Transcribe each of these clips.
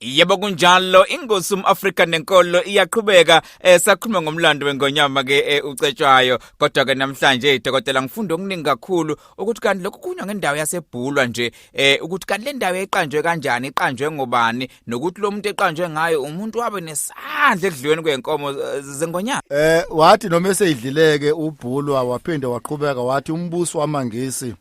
Yebo kunjalo ingosi umAfrika nenkolo iyaqhubeka esakhuluma eh, ngomlando wengonyama ke eh, ucetshwayo kodwa ke namhlanje idokotela ngifunda okuningi kakhulu ukuthi kanti lokhu kunywa ngendawo yasebhulwa nje eh ukuthi kanti le ndawo eqanjwe kanjani iqanjwe ngobani nokuthi lo muntu eqanjwe ngayo umuntu wabe nesandla ekudliweni kwenkomo eh, zengonyama eh wathi noma eseyidlileke ubhulwa waphinde waqhubeka wathi umbuso wamangisi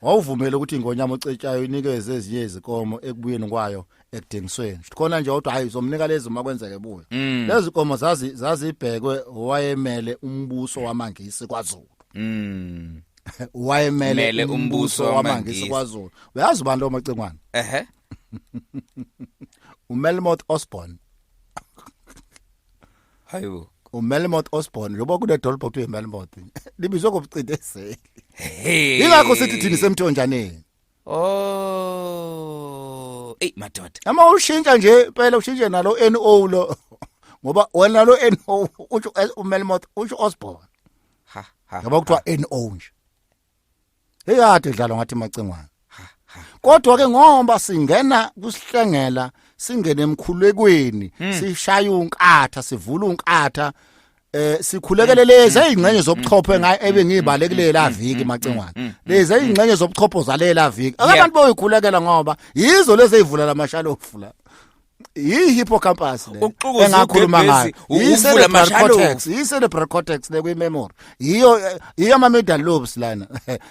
wawuvumela ukuthi ingonyama ocetshayo inikeze ezinye izikomo ekubuyeni kwayo ekudingisweni khona nje kodwa hayi uzomnika lezi uma kwenzeke buyo mm. lezi komo zazi zazibhekwe wayemele umbuso wamangisi kwaZulu mm. wayemele umbuso wamangisi kwaZulu uyazi ubani lo macingwana ehe uMelmoth Osborne hayibo umelmoth osborn lobo kunedolobha kuthiwa imelmoth libizwe ngobucindezeli hey ingakho sithi thini semthonjaneni oh ey madoda ama ushintsha nje phela ushintshe nalo NO lo ngoba wena lo NO usho umelmoth usho osborn ha ha ngoba kuthiwa NO nje eyade dlalo ngathi macingwana kodwa ke ngoba singena kusihlengela singene emkhulekweni hmm. sishaya unkatha sivula unkatha eh sikhulekele hmm. lezi ezingxenye hmm. zobuchopho ngaye ebe ngibalekile la viki macingwane lezi ezingxenye zobuchopho zalela viki abantu boyikhulekela ngoba yizo lezi ezivula lamashalofu la yi hippocampus le Ukuxukuza engakhuluma ngayo ugembezi, yi ukuvula cerebral amashalo. cortex yi cerebral cortex le kwi memory yiyo eh, yiyo ama middle lobes lana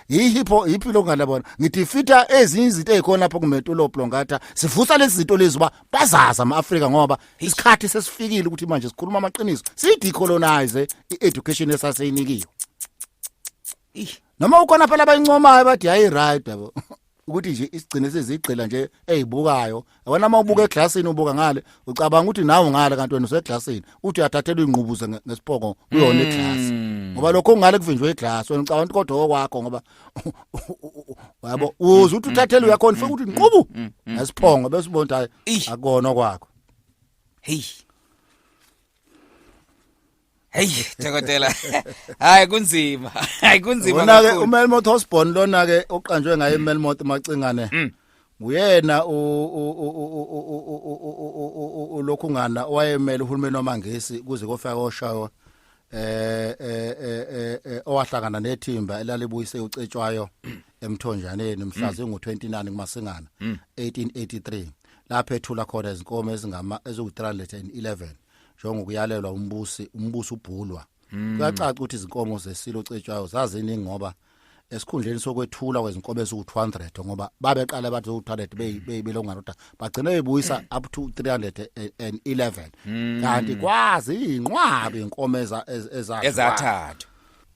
yi hippo yiphilo ngana bona ngithi fita ezinye izinto ezikhona lapho kumetulo plongata sivusa lezi zinto lezi uba bazaza ama Africa ngoba isikhathi sesifikile ukuthi manje sikhuluma amaqiniso siyi decolonize i education esaseyinikiwe noma ukhona phela abayincomayo bathi hayi right yabo ukuthi nje isigcine sezigqila nje ezibukayo wena uma ubuka eglassini ubuka ngale ucabanga ukuthi nawe ngale kanti wena useglassini uthi uyathathelwa ingqubuze ngesipoko kuyona iglass mm. ngoba lokho ungale kuvinjwe iglass wena ucabanga ukuthi kodwa okwakho ngoba yabo mm. uze uthi mm. uthathele uyakho ufike ukuthi nqubu ngesiphongo bese ubona ukuthi akona kwakho hey Hey dokotela. Hayi kunzima. Hayi kunzima kakhulu. Wona ke uMelmoth Osborne lona ke oqanjwe ngaye uMelmoth Macingane. Mm. Uyena u lokhu ngana owayemele uhulumeni wamaNgisi kuze kofika koshayo eh eh owahlangana nethimba elalibuyise ucetshwayo emthonjaneni mhla zingu-29 kumasingana 1883 lapho ethula khona izinkomo ezingama eziwu-311 njengokuyalelwa umbusi umbusi ubhulwa hmm. kuyacaca ukuthi izinkomo zesilo cetshwayo zaziningi ngoba esikhundleni sokwethula kwezinkomo eziwu-200 ngoba babeqala abantu zowu-200 beyibelongana kodwa bagcine bebuyisa up to 311 hmm. kanti kwazi iy'nqwabi iy'nkomo ezathathwa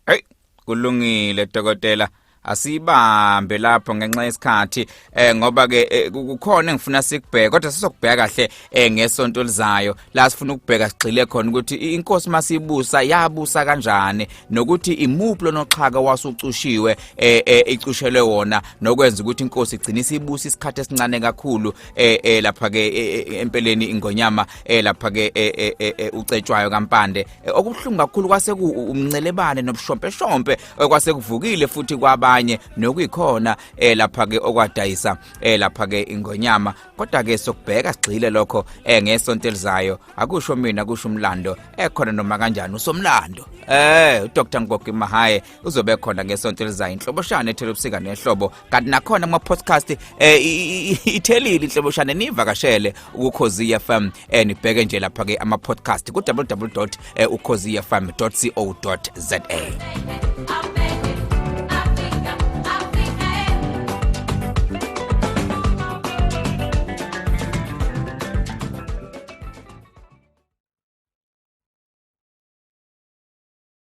eyi kulungile dokotela asiyibambe lapho ngenxa yesikhathi eh ngoba ke eh, kukhona engifuna sikubheke kodwa sisokubheka kahle eh ngesonto lizayo la sifuna ukubheka sigxile khona ukuthi inkosi masibusa yabusa kanjani nokuthi imuphi lonoxhaka wasucushiwe eh, eh icushelwe wona nokwenza ukuthi inkosi igcine isibusa isikhathi esincane kakhulu eh, eh lapha ke eh, eh, empeleni ingonyama eh lapha ke eh, eh, eh, eh ucetshwayo kampande Eh, okubuhlungu kakhulu kwase umncelebane nobushompeshompe eh, kwase kuvukile futhi kwabanye nokuyikhona eh, lapha ke okwadayisa lapha ke ingonyama kodwa ke sokubheka sigxile lokho ngesonto elizayo akusho mina kusho umlando ekhona noma kanjani usomlando eh uDr Ngogi Mahaye uzobe khona ngesonto elizayo inhloboshana ethela ubusika nehlobo kanti nakhona kuma-podcast um eh, ithelile inhloboshana niyivakashele ukukhozi fm um nibheke nje lapha-ke ama-podcast ku-www eh, ukhozi fm co za